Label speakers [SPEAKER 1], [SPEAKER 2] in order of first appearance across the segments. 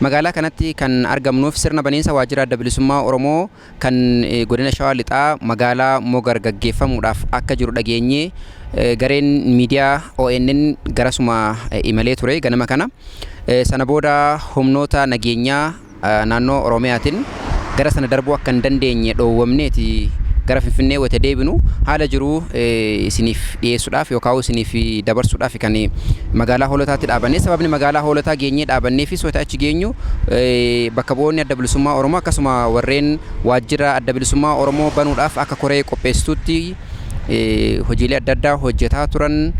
[SPEAKER 1] Magaalaa kanatti kan argamnuuf sirna baniinsa Waajjira Adda Bilisummaa Oromoo kan Godina Shawaa Lixaa magaalaa Mogar gaggeeffamuudhaaf akka jiru dhageenyee gareen miidiyaa ONN garasuma imalee ture ganama kana. Sana booda humnoota nageenyaa naannoo Oromiyaatiin gara sana darbuu akka hin dandeenye dhoowwamneeti gara Finfinnee wayita deebinu haala jiru isiniif dhiyeessuudhaaf yookaan isiniif dabarsuudhaaf kan magaalaa Hoolotaatti dhaabanne. Sababni magaalaa Hoolotaa geenyee dhaabanneefis wayita achi geenyu bakka bu'oonni Adda Bilisummaa Oromoo akkasuma warreen waajjira Adda Bilisummaa Oromoo banuudhaaf akka koree qopheessituutti hojiilee adda addaa hojjetaa turan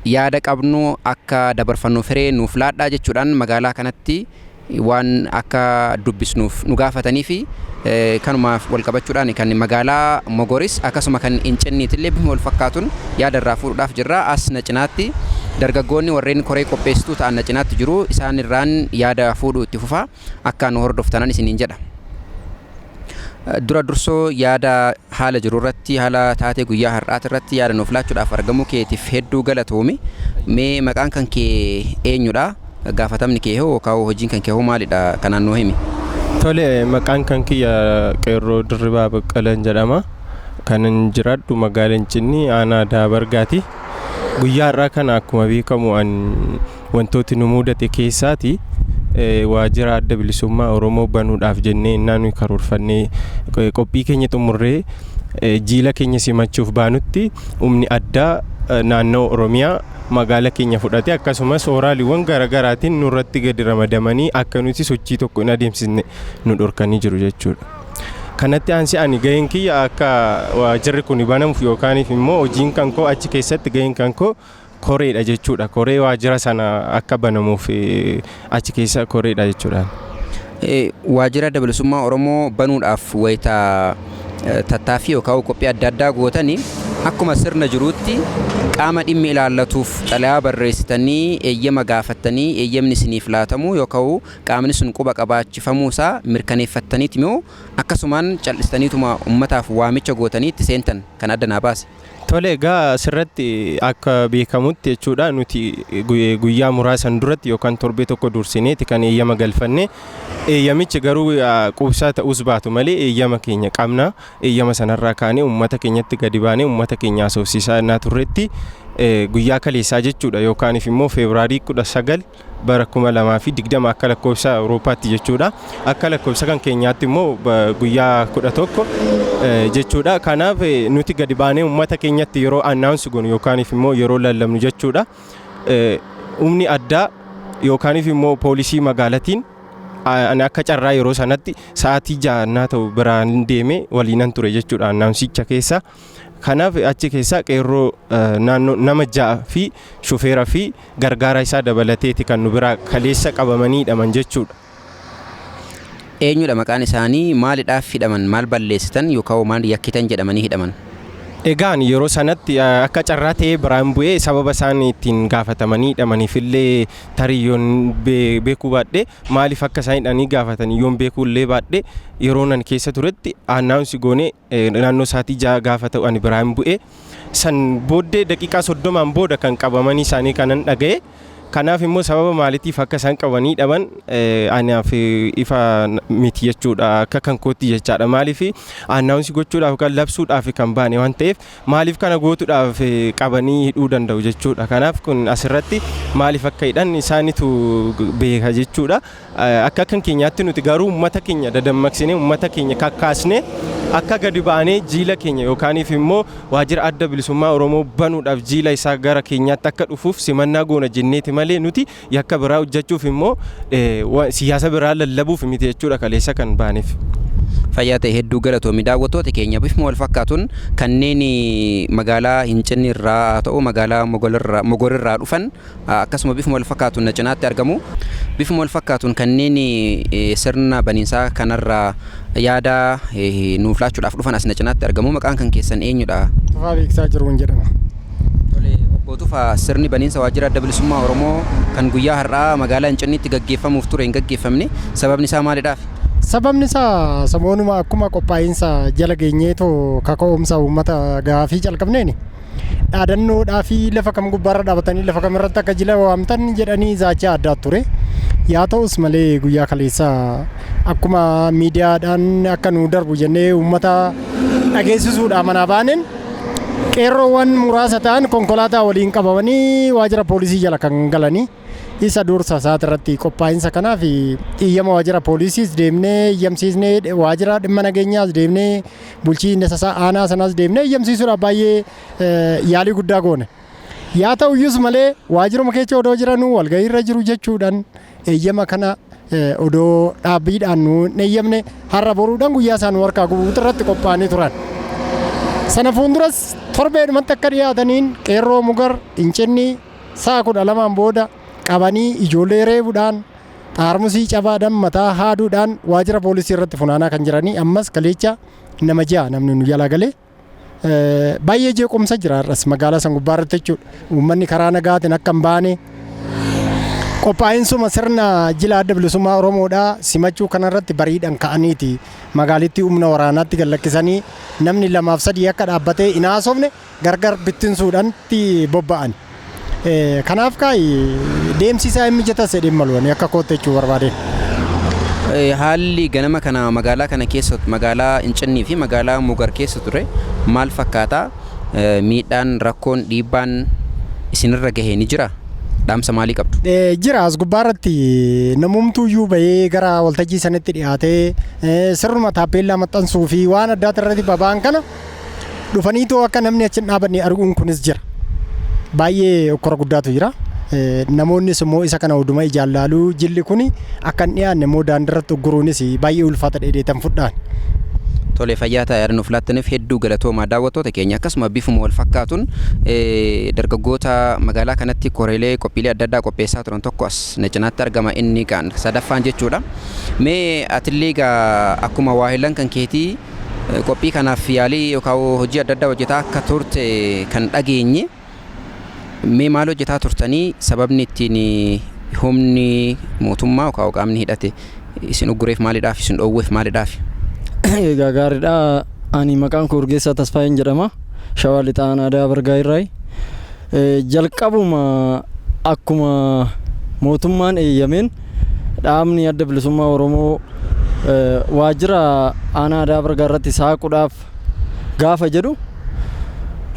[SPEAKER 1] yaada qabnu akka dabarfannuuf hiree nuuf laadhaa jechuudhaan magaalaa kanatti waan akka dubbisnuuf nu gaafataniifi kanumaaf wal qabachuudhaan kan magaalaa Mogoris akkasuma kan Incinniitillee bifuma wal fakkaatuun yaada irraa fuudhuudhaaf jirra. As na cinaatti dargaggoonni warreen koree qopheessituu ta'an na cinaatti jiru. Isaan irraan yaada fuudhuu itti fufaa. Akka nu hordoftanan isiniin jedha. Dura dursoo yaada haala jiru irratti haala taatee guyyaa har'aati irratti yaada nuuf laachuudhaaf argamuu keetiif hedduu galatoomi. Mee maqaan kan kee eenyudha? Gaafatamni kee hoo yookaan hojiin kan kee hoo maalidha? Kanaan nuu himi. Tole
[SPEAKER 2] maqaan kan kiyya Qeerroo Dirribaa Baqqalan jedhama. Kanan jiraadhu magaala Incinnii aanaa Daabargaati. Guyyaa har'aa kana akkuma beekamu an Wantooti nu muudate keessaati waajira Adda Bilisummaa Oromoo banuudhaaf jennee innaa nuyi karoorfannee qophii keenya xumurree jiila keenya simachuuf baanutti humni addaa naannoo Oromiyaa magaala keenya fudhate akkasumas ooraaliiwwan garaagaraatiin nurratti gadi ramadamanii akka nuti sochii tokko hin adeemsisne nu dhorkanii jiru jechuudha. Kanatti aansi ani gaheen kiyya akka waajirri kun banamuuf yookaaniif immoo hojiin kan koo achi keessatti gaheen kan koo koreedha jechuudha. Koree waajjira sana akka banamuuf achi keessa koreedha jechuudhaan.
[SPEAKER 1] Waajjira Adda Bilisummaa Oromoo banuudhaaf wayita tattaaffii yookaan qophii adda addaa gootan akkuma sirna jiruutti qaama dhimmi ilaallatuuf xalayaa barreessitanii eeyyama gaafattanii eeyyamni isiniif laatamuu yookaan qaamni sun quba qabaachifamuu isaa mirkaneeffattaniiti moo akkasumaan cal'istaniituma ummataaf waamicha gootanii itti seentan? Kana adda naa baasi. Tole egaa
[SPEAKER 2] asirratti akka beekamutti jechuudha nuti guyyaa muraasan duratti yookaan torbee tokko dursineeti kan eeyyama galfanne eeyyamichi garuu quubsaa ta'uus baatu malee eeyyama keenya qabna eeyyama sanarraa kaanee uummata keenyatti gadi baanee uummata keenya haasofsiisaa innaa turretti guyyaa kaleessaa jechuudha yookaaniif immoo feebiraarii kudha sagal bara 2020 akka lakkoofsa Awurooppaatti jechuudha. Akka lakkoofsa kan keenyaatti immoo guyyaa 11 jechuudha. Kanaaf nuti gadi baanee uummata keenyatti yeroo annaawunsi goonu yookaaniif immoo yeroo lallabnu jechuudha. Humni addaa yookaaniif immoo poolisii magaalatiin ani akka carraa yeroo sanatti sa'aatii jaannaa ta'u biraan deemee waliinan ture jechuudha annaawunsicha keessa. Kanaaf achi keessaa qeerroo naannoo nama 6 fi shufeera fi gargaaraa isaa dabalateeti kan nu biraa kaleessa qabamanii hidhaman jechuudha.
[SPEAKER 1] Eenyudha maqaan isaanii? Maalidhaaf hidhaman? Maal balleessitan yookawoo maal yakkitan jedhamanii hidhaman? Egaa ani
[SPEAKER 2] yeroo sanatti akka carraa ta'ee biraan bu'ee sababa isaan ittiin gaafatamanii hidhamaniif illee tarii yoon beekuu baadhee maaliif akka isaan hidhanii gaafatan yoon beekuu illee baadhee yeroo nan keessa turetti annaawunsi goonee Naannoo sa'aatii ja'a gaafa ta'u ani biraa hin bu'e. San booddee daqiiqaa soddomaan booda kan qabamanii isaanii kanan dhaga'e. Kanaaf immoo sababa maalitiif akka isaan qabanii dhaban anaaf ifa miti jechuudha. Akka kan kootti jechaadha. Maaliif annaawunsi gochuudhaaf kan labsuudhaaf kan baane waan ta'eef maaliif kana gootuudhaaf qabanii hidhuu danda'u jechuudha. Kanaaf kun asirratti maaliif akka hidhan isaanitu beeka jechuudha. Akka kan keenyaatti nuti garuu ummata keenya dadammaqsinee ummata keenya kakkaasnee akka gadi baanee jiila keenya yookaaniif immoo waajjira adda bilisummaa Oromoo banuudhaaf jiila isaa gara keenyaatti akka dhufuuf simannaa goona jenneeti malee nuti yakka biraa hojjechuuf immoo siyaasa biraa lallabuuf miti jechuudha kaleessa kan baaneef. Fayyaa ta'e
[SPEAKER 1] hedduu galatoomi. Daawwattoota keenya bifuma wal fakkaatuun kanneen magaalaa Hincinni irraa haa ta'u magaalaa Mogol irraa Mogor irraa dhufan Akkasuma bifuma wal fakkaatuun na cinaatti argamu. Bifuma wal fakkaatuun kanneen sirna baniinsaa kanarra yaada nuuf laachuudhaaf dhufan as na cinaatti argamu. Maqaan kan keessan eenyudha? Tufaa Beeksisaa Jiruun
[SPEAKER 3] jedhama. Tole
[SPEAKER 1] obbo Tufaa sirni baniinsa waajjira adda bilisummaa Oromoo kan guyyaa har'aa magaalaa Incinniitti gaggeeffamuuf ture hin gaggeeffamne. Sababni isaa maalidhaaf? Sababni isaa
[SPEAKER 3] samoonuma akkuma qophaa'insa jala geenyeetoo kaka'umsa uummata gaafii calqabneeni. dhaadannoodhaa fi lafa kam gubbaarra dhaabatanii lafa kam irratti akka jila waamtan jedhanii zaachaa addaa ture. Yaa ta'us malee guyyaa kaleessa akkuma miidiyaadhaan akka nu darbu jennee uummata dhageessisuudhaa manaa baaneen qeerroowwan muraasa ta'an konkolaataa waliin qabamanii waajjira poolisii jala kan galanii isa dursa isaati irratti qophaa'insa kanaaf iyyama waajjira poolisiis deemnee iyyamsiisnee waajjira dhimma nageenyaas deemnee Bulchiinsa isaa aanaa sanaas deemnee eeyyamsiisuudhaaf baay'ee yaalii guddaa goone. Yaa ta'u iyyus malee waajjiruma keessa odoo jiranuu walgahii irra jiru jechuudhaan eeyyama kana odoo dhaabbiidhaan nu hin eeyyamne har'a boruudhaan guyyaa isaa nu harkaa gubuutu irratti qophaa'anii turan. Sana fuulduras torbeedhumatti akka dhiyaataniin qeerroo mugar incinni sa'a kudha lamaan booda qabanii ijoollee reebuudhaan Xaarmusii cabaa dam mataa haaduu dhaan waajira poolisii irratti funaanaa kan jiranii ammas kaleecha nama ja'a namni nu jalaa galee baay'ee jeequmsa jira har'as magaalaa san gubbaa irratti jechuudha. Uummanni karaa nagaatiin akka hin baane qophaa'insuma sirna jila adda bilisummaa Oromoodhaa simachuu kanarratti bariidhaan ka'aniiti magaalittii humna waraanaatti gallakkisanii namni lamaaf sadii akka dhaabbatee hin haasofne gargar bittinsuudhan itti bobba'an. Kanaaf kaa'i deemsi isaa hin mijatas jedheen maluwani akka kootti jechuu barbaadeen.
[SPEAKER 1] Haalli ganama kana magaalaa kana keessa magaalaa Incinnii fi magaalaa Mugar keessa ture maal fakkaata? Miidhaan, rakkoon, dhiibbaan isinirra gahe ni jira? Dhaamsa maalii qabdu? Jira as gubbaa
[SPEAKER 3] irratti namumtuu iyyuu bahee gara waltajjii sanitti dhiyaatee sirnuma taappeellaa maxxansuu fi waan addaati irratti baba'an kana Dhufaniitoo akka namni achi hin dhaabanne arguun kunis jira. Baay'ee okkora guddaatu jira. Eh, Namoonnis immoo isa kana huduma ijaan laaluu jilli kun akka hin dhiyaanne immoo daandirratti ugguruunis baay'ee ulfaata dheedeetan fudhaan. Tole
[SPEAKER 1] fayyaa ta'a yaada nuuf laattaniif hedduu galatoomaa daawwattoota keenya akkasuma bifuma wal fakkaatuun eh, dargaggoota magaalaa kanatti koreelee qophiilee adda addaa qopheessaa turan tokko as na cinaatti argama inni kaan sadaffaan jechuudha. Mee atillee egaa akkuma waahilan kan keetii Qophii kanaaf yaalii yookaan hojii adda addaa hojjetaa akka turte kan dhageenye. Mee maal hojjetaa turtanii? Sababni ittiin humni mootummaa yookaan qaamni hidhate isin uggureef maalidhaaf? Isin dhoowweef maalidhaaf? Egaa
[SPEAKER 4] gaariidha. Ani maqaan koo Urgeessaa Tasfaayeen jedhama. Shawaa Lixaa Aanaa Aadaa Bargaa irraayi. Jalqabuma akkuma mootummaan eeyyameen Dhaabni Adda Bilisummaa Oromoo waajjira aanaa Adaa Bargaa irratti saaquudhaaf gaafa jedhu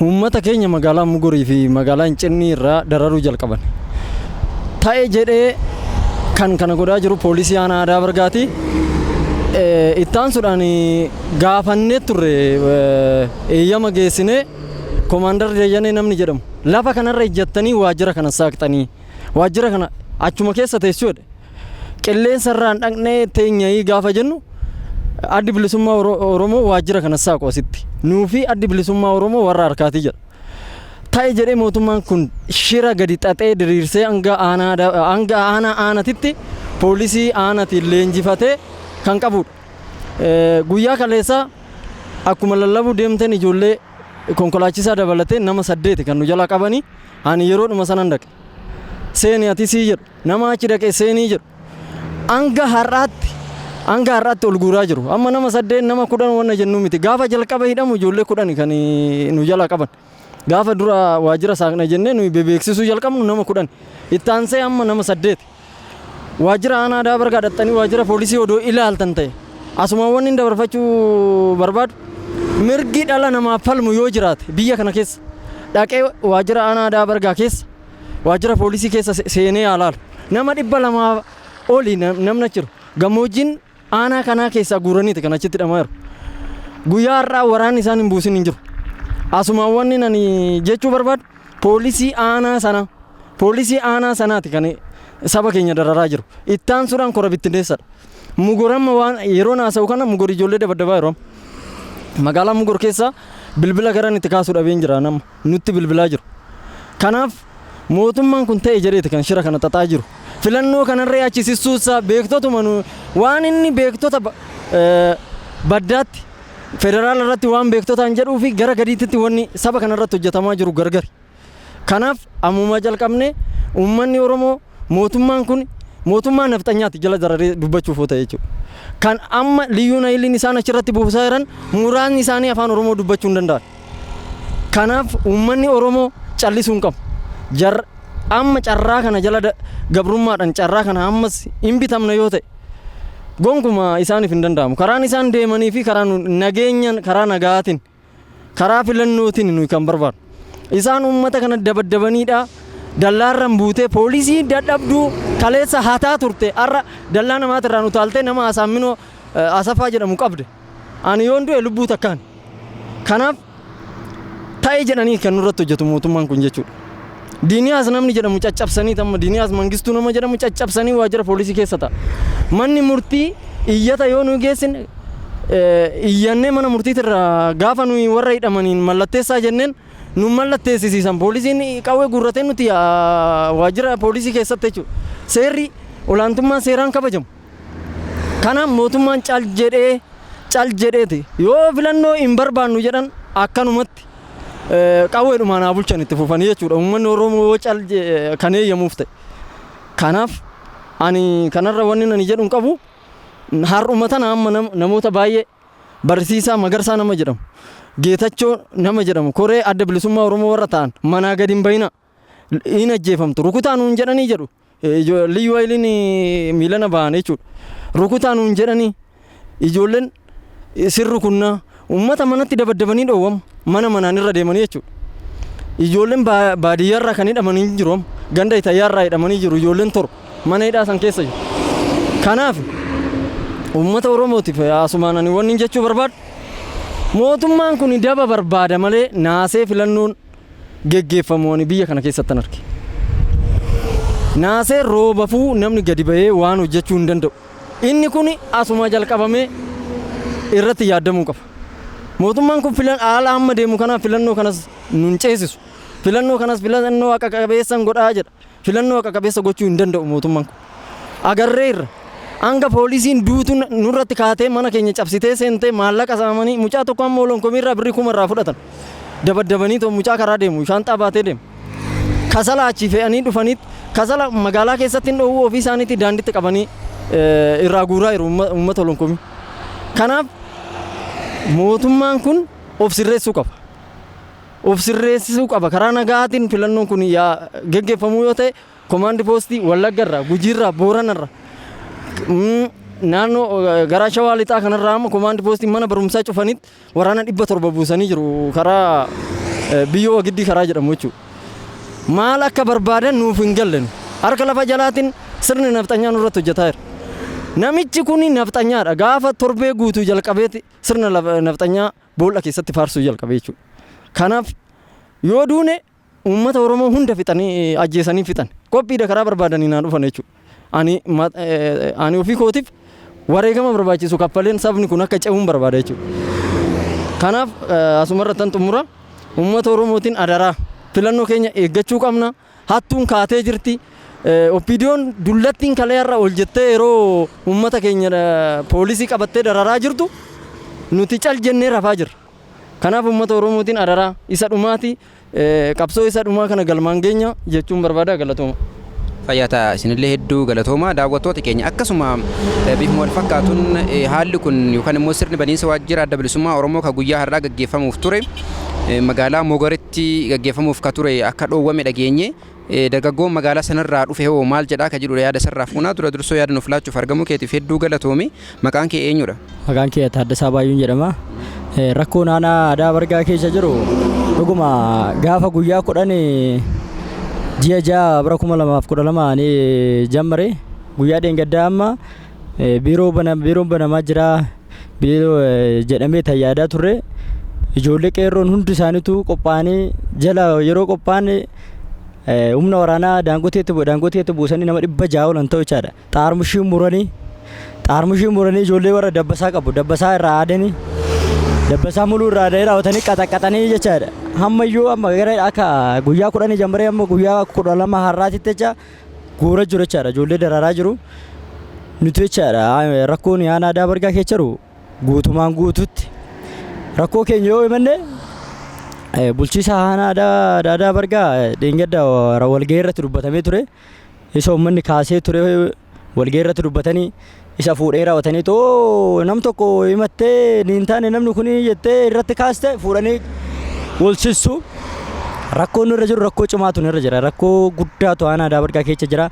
[SPEAKER 4] uummata keenya magaalaa Mugurii fi magaalaa Incinnii irraa dararuu jalqaban. Ta'e jedhee kan kana godhaa jiru poolisii aanaa Adaa Bargaati. Ittaansuudhaan gaafannee turre eeyyama geessinee komaandar Dayyanee namni jedhamu lafa kanarra ijjattanii waajjira kana saaqxanii waajjira kana achuma keessa teessuudha. Qilleensarraan dhaqnee teenyayii gaafa jennu addi bilisummaa Oromoo waajjira kana saaqu asitti. Nuufi addi bilisummaa Oromoo warra harkaati jedha. Ta'e jedhee mootummaan kun shira gadi xaxee diriirsee hanga aanaa aanatitti poolisii aanatiin leenjifatee kan qabudha. Guyyaa kaleessaa akkuma lallabuu deemteen ijoollee konkolaachisaa dabalatee nama saddeeti kan nu jalaa qabanii. Ani yeroodhuma sanan dhaqe. Seeni atisii jedhu. Nama achi dhaqe seenii jedhu. Hanga har'aatti hanga har'aatti ol guuraa jiru. Amma nama saddeet nama kudhan wanna jennu miti. Gaafa jalqaba hidhamu ijoollee kudhani kan nu jalaa qaban. Gaafa dura waajjira saaqna jennee nuyi bebeeksisuu jalqabnu nama kudhan. Itti aansee amma nama saddeeti. Waajjira aanaa Adaa Bargaa dhaxxanii waajjira poolisii odoo ilaaltan ta'e asuma wanni hin dabarfachuu barbaadu mirgi dhala namaaf falmu yoo jiraate biyya kana keessa dhaqee waajjira aanaa Adaa Bargaa keessa waajjira poolisii keessa seenee haa laalu. Nama dhibba lamaa oli namna jiru gammoojjiin Aanaa kanaa keessaa guuraniiti kan achitti hidhamaa jiru. Guyyaa har'aa waraanni isaan hin buusin hin jiru. Asumaan wanni nani jechuu barbaadu poolisii aanaa sana poolisii aanaa sanaati kan saba keenya dararaa jiru. Ittaan suuraan kora bittinneessadha. Mugoramma waan yeroo naasa'u kana mugori ijoollee dabaddabaa yeroo magaalaa mugor keessaa bilbila garan itti kaasuu dhabeen jira nama. nutti bilbilaa jiru. Kanaaf mootummaan kun ta'e jedheeti kan shira kana xaxaa jiru. Filannoo kanarree achi sissuussaa beektotuma nu waan inni beektota baddaatti federaala irratti waan beektotaan jedhuu fi gara gadiitti wanni saba kanarratti hojjetamaa jiru gargari. Kanaaf ammumaa jalqabnee uummanni Oromoo mootummaan kun mootummaa nafxanyaati jala dararee dubbachuuf oota jechuudha. Kan amma liyyuu nayiliin isaan achirratti buusaa jiran muraasni isaanii afaan Oromoo dubbachuu hin danda'an. Kanaaf uummanni Oromoo callisuu hin qabu. Jar amma carraa kana jala da- gabrummaadhaan carraa kana ammas hin bitamna yoo ta'e gonkumaa isaaniif hin danda'amu. Karaan isaan deemanii fi karaa nu- nageenyaan karaa nagaatiin karaa filannootiin nuyi kan barbaadu. Isaan uummata kana dabaddabaniidha. Dallaarran buutee poolisii dadhabduu kaleessa hataa turte har'a dallaa namaatirraan utaaltee nama Asaamminoo eh, Asafaa jedhamu qabde. Ani yoon du'e lubbuu takkaan. Kanaaf ta'e jedhanii kan nurratti hojjetu mootummaan kun jechuudha. Diiniyaas namni jedhamu caccabsanii tamma Diiniyaas Mangistuu nama jedhamu caccabsanii waajjira poolisii keessa ta'a. Manni murtii iyyata yoo nu geessine iyyannee mana murtiitirraa gaafa nuyi warra hidhamaniin mallatteessaa jenneen nu mallatteessisiisan poolisiin qawwee guurratee nuti waajjira poolisii keessatti jechuudha. Seerri olaantummaa seeraan kabajamu. Kana mootummaan cal jedhee cal jedheeti yoo filannoo hin barbaannu jedhan akkanumatti qawweedhumaan haa bulchan itti fufanii jechuudha. Uummanni Oromoo yoo cal kan eeyyamuuf ta'e. Kanaaf ani kanarra wanni ani jedhu hin qabu har'uma tana amma namoota baay'ee barsiisaa magarsaa nama jedhamu geetachoo nama jedhamu koree adda bilisummaa Oromoo warra ta'an manaa gadi hin bahina. hin ajjeefamtu rukutaa nuun jedhanii jedhu liyyuu hayiliin miilana bahan jechuudha rukutaa nuun jedhanii ijoolleen isin rukunnaa uummata manatti dabaddabanii dhoowwamu mana manaan irra deemanii jechuudha ijoolleen baadiyyaarraa kan hidhamanii jiru amma ganda itayyaarraa hidhamanii jiru ijoolleen toru mana hidhaa san keessa jiru kanaaf uummata oromootiif asumaan ani wanni jechuu barbaadu mootummaan kun daba barbaada malee naasee filannoon geggeeffamu ani biyya kana keessattan arge. Naasee roobafuu namni gadi ba'ee waan hojjechuu hin danda'u. Inni kun asuma jalqabamee irratti yaaddamuu qaba. Mootummaan kun filan haala amma deemu kanaan filannoo kanas nun ceesisu. Filannoo kanas filannoo haqa qabeessan godhaa jedha. Filannoo haqa qabeessa gochuu hin danda'u mootummaan kun. Agarreerra. Hanga poolisiin duutu nurratti kaatee mana keenya cabsitee seentee maallaqa saamanii mucaa tokko amma olonkomiirraa birrii kuma irraa fudhatan. Dabaddabanii too mucaa karaa deemu shaanxaa baatee deemu. Kasala achii fe'anii dhufanii kasala magaalaa keessatti hin dhoowwuu ofii isaaniitii daanditti qabanii irraa guuraa jiru uummata olonkomii. Kanaaf mootummaan kun of sirreessuu qaba. of sirreessisuu qaba. Karaa nagaatiin filannoon kun yaa geggeeffamuu yoo ta'e komaandi poostii Wallagga irraa, Gujii irraa, Boorana irraa, mm, naannoo eh, garaa shawaa lixaa kanarraa amma komaandi poostii mana barumsaa cufanitti waraana dhibba torba buusanii jiru karaa eh, biyyoo wagiddii karaa jedhamu jechuudha. Maal akka barbaadan nuuf hin galle nu. Harka lafa jalaatiin sirni nafxanyaa nurratti hojjetaa jira. Namichi kun nafxanyaadha. Gaafa torbee guutuu jalqabeeti sirna lafa- nafxanyaa Boolla keessatti faarsuu jalqabe jechuudha. Kanaaf yoo duune uummata Oromoo hunda fixanii ajjeesanii fixan. Qophiidha karaa barbaadanii naa dhufan jechuudha. Ani ma- eh, ani ofii kootiif wareegama barbaachisu kaffaleen sabni kun akka ce'uun barbaada jechuudha. Kanaaf eh, asumarrattan xumura uummata Oromootiin adaraa filannoo keenya eeggachuu qabna. Hattuun kaatee jirti. OPDOn dullattiin kalee har'a ol jettee yeroo uummata keenya poolisii qabattee dararaa jirtu nuti cal jennee rafaa jirra. Kanaaf uummata Oromootiin adaraa isa dhumaati. Qabsoo isa dhumaa kana galmaan geenya jechuun barbaada galatooma. Fayyaa ta'a
[SPEAKER 1] isinillee hedduu galatooma daawwattoota keenya akkasuma bifuma wal fakkaatuun haalli kun yookaan immoo sirni baniinsa waajjira adda bilisummaa Oromoo kan guyyaa har'aa gaggeeffamuuf ture magaalaa Mogoretti irratti gaggeeffamuuf ka ture akka dhoowwame dhageenye. Dargaggoon magaalaa sanarraa dhufe hoo maal jedhaa ka jedhudha yaada isarraa fuunaa. Dura dursoo yaada nuuf laachuuf argamuu keetiif hedduu galatoomi. Maqaan kee eenyudha? Maqaan kiyya Taaddasaa
[SPEAKER 5] Baayyuun jedhama. Rakkoon aanaa Adaa Bargaa keessa jiru dhuguma gaafa guyyaa kudhan ji'a ja'a bara kuma lamaaf kudha lama ani jammare guyyaa dheengaddaa amma biiroo bana biiroon banamaa jira biiloo jedhamee tan yaadaa turre ijoollee qeerroon hundi isaaniitu qophaa'anii jala yeroo qophaa'an humna waraanaa daangoteetti daangoteetti buusanii nama dhibba ja'a olan ta'u jechaadha. Xaarmushii muranii xaarmushii muranii ijoollee warra dabbasaa qabu dabbasaa irraa aadanii dabbasaa muluu irraa aadanii raawwatanii qaxaqaxanii jechaadha. Hamma iyyuu amma gara akka guyyaa kudhanii jammaree amma guyyaa kudha lama har'aatitti jecha Goora jiru jechaadha ijoollee dararaa jiru nuti jechaadha rakkoon aanaa aadaa bargaa keessa jiru guutumaan guututti rakkoo keenya yoo himanne bulchiisa aanaa aadaa aadaa bargaa dheengadda walgahii irratti dubbatamee ture isa uummanni kaasee ture walgahii irratti dubbatanii Isa fuudhee raawwatanii too nam tokko himattee hin taane namni kun jettee irratti kaaste fuudhanii walsissu. Rakkoon nurra jiru rakkoo cimaatu nurra jira. Rakkoo guddaatu aanaa daabadgaa keessa jira.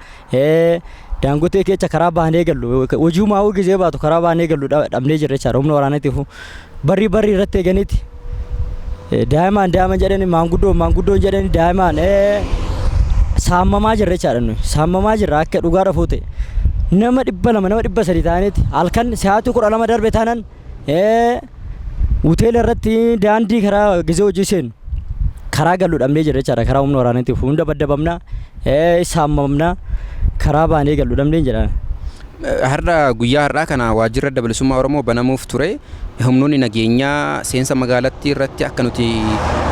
[SPEAKER 5] Daangotee keessa karaa baanee gallu hojii maawuu gizee baatu karaa baanee gallu dhabnee jirra jechaadha humna waraanatiif. Barri barri irratti eeganitti daa'imaan daa'iman jedhani maanguddoon maanguddoon jedhani daa'imaan saamamaa jirra jechaadha nuyi saamamaa jirra akka dhugaa rafuu ta'e nama dhibba lama nama dhibba sadii ta'anitti halkan sa'aatii kudha lama darbe taanan hoteela irratti daandii karaa gizee hojii seenu karaa galu dhabnee jirra jechaadha karaa humna waraanaatiif hunda baddabamna saamamna karaa baanee galu dhabnee jedha. Har'a
[SPEAKER 1] guyyaa har'aa kana waajjirri Adda Bilisummaa Oromoo banamuuf ture humnoonni nageenyaa seensa magaalattii irratti akka nuti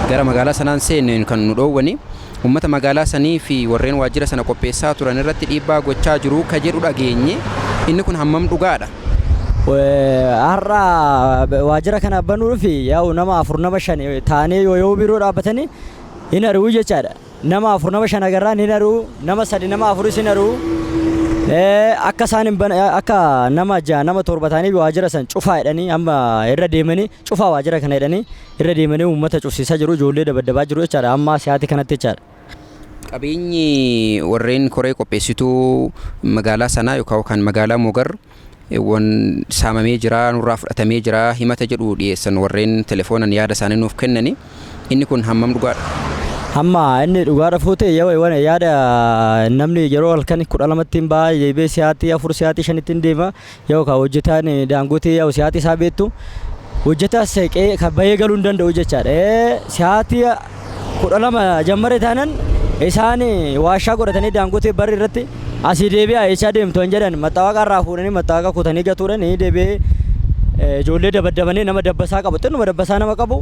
[SPEAKER 1] gara magaalaa sanaa hin seenne kan nu dhoowwani. Uummata magaalaa sanii fi warreen waajjira sana qopheessaa turan irratti dhiibbaa gochaa jiru ka jedhu dhageenye. Inni kun hammam dhugaadha?
[SPEAKER 5] Har'a waajjira kana banuudhaaf yaa'u nama afur nama shan taanee yoo yoo biiroo dhaabbatanii hin ari'uu jechaadha. Nama afur nama shan agarraan hin aruu nama sadi nama afuris hin aruu akka isaan hin bane akka nama ja'a nama torba ta'anii waajjira san cufaa jedhanii amma irra deemanii cufaa waajjira kana jedhanii irra deemanii uummata cufsiisaa jiru ijoollee dabaddabaa jiru jechaadha amma si'aati kanatti jechaadha. Qabeenyi
[SPEAKER 1] warreen koree qopheessituu magaalaa sanaa yookaan kan magaalaa Mogar wwan saamamee jira, nurraa fudhatamee jira himata jedhu dhiyeessan warreen telefoonan yaada isaanii nuuf kennani. Inni kun hammam dhugaadha? Amma
[SPEAKER 5] inni dhugaadha fuute yawa wana yaada namni yeroo halkan kudha lamatti hin ba'a deebee siyaatii afur siyaatii shanitti hin deema yoo ka hojjetaan daangotee yoo siyaatii isaa beektu hojjetaa seeqee ka bahee galuu hin danda'u jechaadha. Siyaatii 12 jammare taanan isaan waashaa godhatanii daangotee barri irratti asii deebi'aa eessaa deemtu hin jedhan maxxaawaqaa irraa fuudhanii maxxaawaqaa kutanii gatuudhaan ni deebi'ee eh, ijoollee dabaddabanii nama dabbasaa qabu xinnuma dabbasaa nama qabu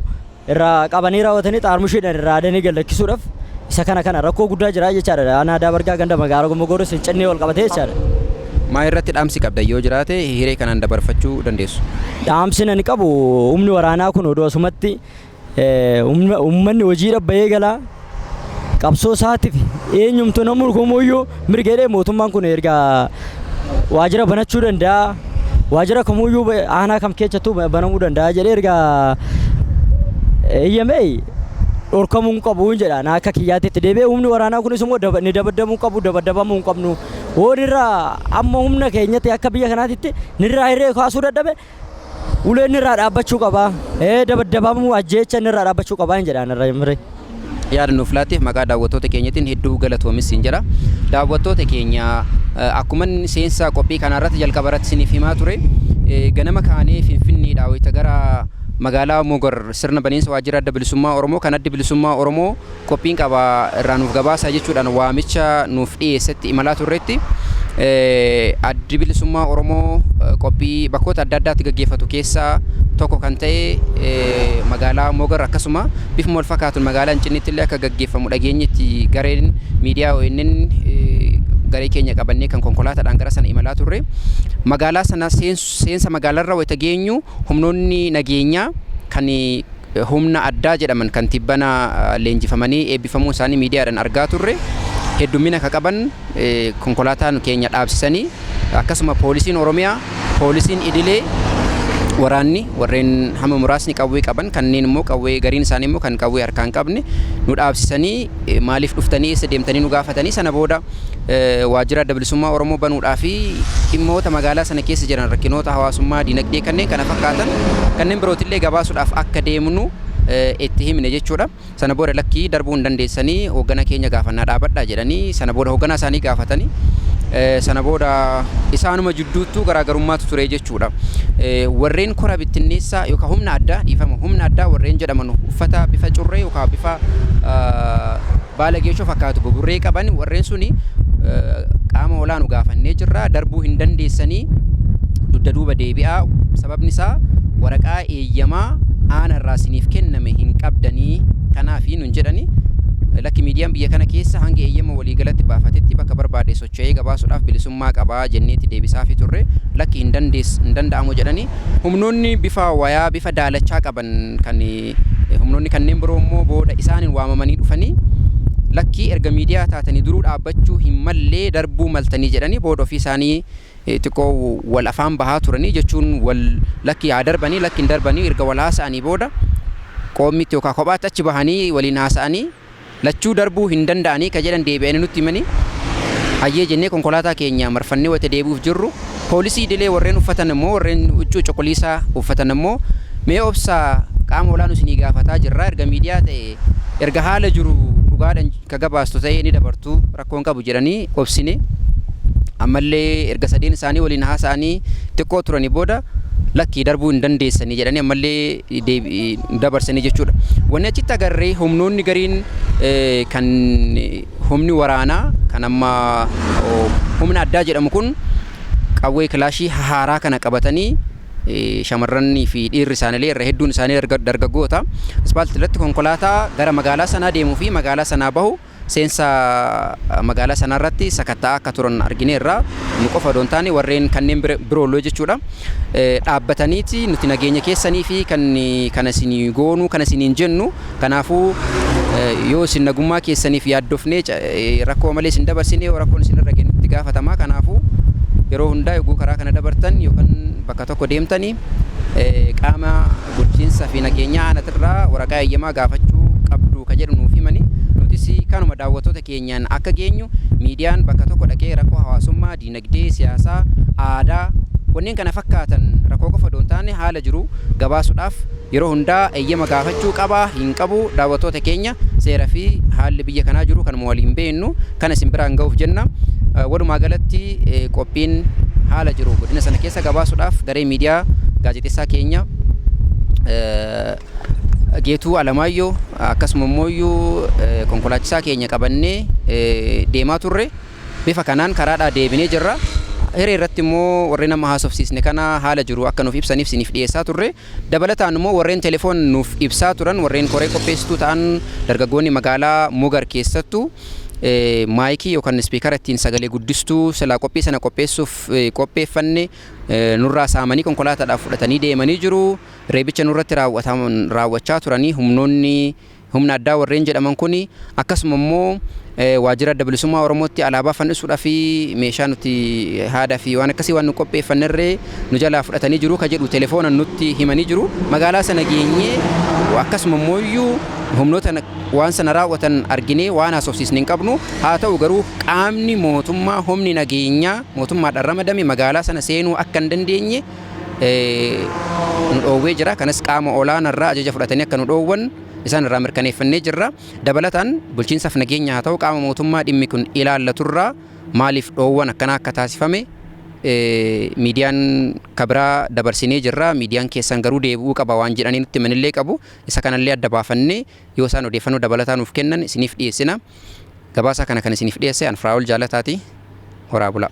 [SPEAKER 5] irraa qabanii raawwatanii xaarmushiidhaan irraa adanii gallakkisuudhaaf isa kana kana rakkoo guddaa jira jechaadha aanaa aadaa bargaa ganda magaalaa gommogoorris hin cinnee wal qabatee jechaadha. Maa irratti
[SPEAKER 1] dhaamsi qabda yoo jiraate hiree kanaan dabarfachuu dandeessu. dhaamsin ani
[SPEAKER 5] qabu humni waraanaa kun odoo asumatti Uummanni hojiidha bahee galaa qabsoo isaatiif eenyumtu nama morkamuyyuu mirga jedhee mootummaan kun erga waajjira banachuu danda'a. Waajjira kamuyyuu aanaa kam keessattuu banamuu danda'a jedhee erga eeyyamee dhorkamuu hin qabu jedha na akka kiyyaatti itti deebi'ee humni waraanaa kunis immoo daba- ni dabaddamuu qabu dabaddamamuu hin qabnu hoonirraa amma humna keenyatti akka biyya kanaatitti nirraa hirree kaasuu dadhabe Uleen nirraa dhaabbachuu qaba. Dabaddabamuu, ajjeecha nirraa dhaabbachuu qaba hin jedhaan irra mire. Yaada nuuf
[SPEAKER 1] laatteef maqaa daawwattoota keenyatiin hedduu galatoomis siin jedha. Daawwattoota keenya akkuman seensa qophii kanaa irratti jalqaba irratti isiniif himaa ture ganama kaanee Finfinneedhaa wayita gara magaalaa Mogar sirna baniinsa waajjira Adda Bilisummaa Oromoo kan Addi Bilisummaa Oromoo qophiin qaba irraa nuuf gabaasaa jechuudhaan waamicha nuuf dhiyeessetti imalaa turretti addi bilisummaa Oromoo qophii bakkoota adda addaatti gaggeeffatu keessaa tokko kan ta'e magaalaa Mogar akkasuma bifuma wal fakkaatuun magaalaa Incinniitti illee akka gaggeeffamu dhageenyetti gareen miidiyaa ONN garee keenya qabannee kan konkolaataadhaan gara sana imalaa turre magaalaa sana seensa magaalarra wayita geenyu humnoonni nageenyaa kan Humna addaa jedhaman kan tibbana leenjifamanii eebbifamuun isaanii miidiyaadhan argaa turre heddummina ka qaban konkolaataan keenya dhaabsisanii akkasuma poolisiin Oromiyaa, poolisiin idilee, waraanni warreen hamma muraasni qawwee qaban kanneen immoo qawwee gariin isaanii immoo kan qawwee harkaa hin qabne nu dhaabsisanii maaliif dhuftanii eessa deemtanii nu gaafatanii sana booda Waajjira Adda Bilisummaa Oromoo banuudhaa fi dhimmoota magaalaa sana keessa jiran rakkinoota hawaasummaa, dinagdee kanneen kana fakkaatan kanneen birootillee gabaasuudhaaf akka deemnu itti himne jechuudha. Sana booda lakkii darbuu hin dandeessanii hoogganaa keenya gaafannaa dhaabadhaa jedhanii sana booda hoogganaa isaanii gaafatanii sana booda isaanuma jidduuttuu garaagarummaatu ture jechuudha. Warreen kora bittinneessaa yookaan humna addaa dhiifama humna addaa warreen jedhaman uffata bifa curree yookaan bifa Baala geeshoo fakkaatu buburree qaban warreen suni qaama olaanu gaafannee jirra darbuu hin dandeessanii dugda duuba deebi'aa sababni isaa waraqaa eeyyamaa aana irraa siniif kenname hin qabdanii kanaafi nun jedhani lakki miidiyaan biyya kana keessa hanga eeyyama waliigalatti baafatetti bakka barbaade socho'ee gabaasudhaaf bilisummaa qaba jenneeti deebisaafi turre lakki hin danda'amu jedhani humnoonni bifa wayaa bifa daalachaa qaban kan Humnoonni kanneen biroo immoo booda isaaniin waamamanii dhufanii lakkii erga miidiyaa taatanii duruu dhaabbachuu hin mallee darbuu maltanii jedhanii booda ofii isaanii xiqqoo wal afaan bahaa turanii jechuun wal lakki haa darbanii lakki hin darbanii erga wal haasa'anii booda qoommiitti yookaan kophaatti achi bahanii waliin haasa'anii Lachuu darbuu hin danda'anii ka jedhan deebi'anii nutti himanii, hayyee jennee konkolaataa keenya marfannee wayita deebi'uuf jirru, poolisii idilee warreen uffatan immoo warreen huccuu cuquliisaa uffatan immoo mee obsaa qaama olaanu isinii gaafataa jirraa erga miidiyaa ta'e erga haala jiru dhugaadhan ka gabaastu ta'ee ni dabartu rakkoo hin qabu jedhanii obsine ammallee erga sadeen isaanii waliin haasa'anii xiqqoo turanii booda lakkii darbuu hin dandeessanii jedhanii ammallee dabarsanii jechuudha. Wanni achitti agarre humnoonni gariin kan humni waraanaa kan amma humna addaa jedhamu kun qawwee kilaashii haaraa kana qabatanii shamarranii fi dhiirri isaaniilee irra hedduun isaanii dargaggoota ispaaltii irratti konkolaataa gara magaalaa sanaa deemuu fi magaalaa sanaa bahu Seensa magaalaa sanaa irratti sakatta'aa akka turan argineerra. Nu qofa odoo hin taane warreen kanneen biroollee jechuudha. Dhaabbataniiti nuti nageenya keessanii fi kan kana isin goonuu kana isiniin jennu kanaafuu yoo isin nagummaa keessaniif yaaddofnee rakkoo malee isin dabarsine yoo rakkoon isin irra geenye itti gaafatamaa kanaafuu yeroo hundaa yogguu karaa kana dabartan yookaan bakka tokko deemtanii qaama Bulchiinsa fi Nageenya Aanatirraa waraqaa eeyyamaa gaafachuu qabdu ka jedhu nuuf himani. Nutis kanuma daawwattoota keenyaan akka geenyu miidiyaan bakka tokko dhaqee rakkoo hawaasummaa, diinagdee, siyaasaa, aadaa, wanneen kana fakkaatan rakkoo qofa odoo hin taane haala jiru gabaasudhaaf yeroo hundaa eeyyama gaafachuu qaba, hin qabu, daawwattoota keenya seera fi haalli biyya kanaa jiru kanuma waliin beeknu kana isin biraan gahuuf jenna. Walumaa galatti. Qophiin haala jiru godina sana keessa gabaasuudhaaf garee miidiyaa gaazexessaa keenya Geetuu Alamaayyoo akkasuma immoo konkolaachisaa keenya qabannee deemaa turre. Bifa kanaan karaadhaa deebinee jirra. Hiree irratti immoo warreen amma haasofsiisne kana haala jiru akka nuuf ibsaniif isiniif dhiyeessaa turre. Dabalataan immoo warreen telefoon nuuf ibsaa turan warreen koree qopheessituu ta'an dargaggoonni magaalaa Mugar keessattu maayikii yookan ispiikara ittiin sagalee guddistuu silaa qophii sana qopheessuuf qopheeffanne nurraa saamanii konkolaataadhaaf fudhatanii deemanii jiru. Reebicha nurratti raawwachaa turanii humnoonni Humna addaa warreen jedhaman kun akkasuma immoo waajjira Adda Bilisummaa Oromootti alaabaa fannisuudhaa fi meeshaa nuti haadaa fi waan akkasii waan nu qopheeffannerree nu jalaa fudhatanii jiru ka jedhu telefoonaan nutti himanii jiru. Magaalaa sana geenyee akkasuma immoo iyyuu humnoota waan sana raawwatan arginee waan haasofsiisne hin qabnu. Haa ta'u garuu qaamni mootummaa humni nageenyaa mootummaadhaan ramadame magaalaa sana seenuu akka hin dandeenye nu dhoowwee jira. Kanas qaama olaana irraa ajaja fudhatanii akka nu dhoowwan isaan irraa mirkaneeffannee jirra. Dabalataan bulchiinsaaf nageenya haa ta'u qaama mootummaa dhimmi kun ilaallatu irraa maaliif dhoowwan akkanaa akka taasifame miidiyaan kabiraa dabarsinee jirra. Miidiyaan keessan garuu deebi'uu qaba waan jedhanii nutti himanillee qabu. Isa kanallee adda baafannee yoo isaan odeeffannoo dabalataa nuuf kennan isiniif dhiyeessina. Gabaasaa kana kan isiniif dhiyeesse an Firaa'ol Jaalataati. Horaa bulaa.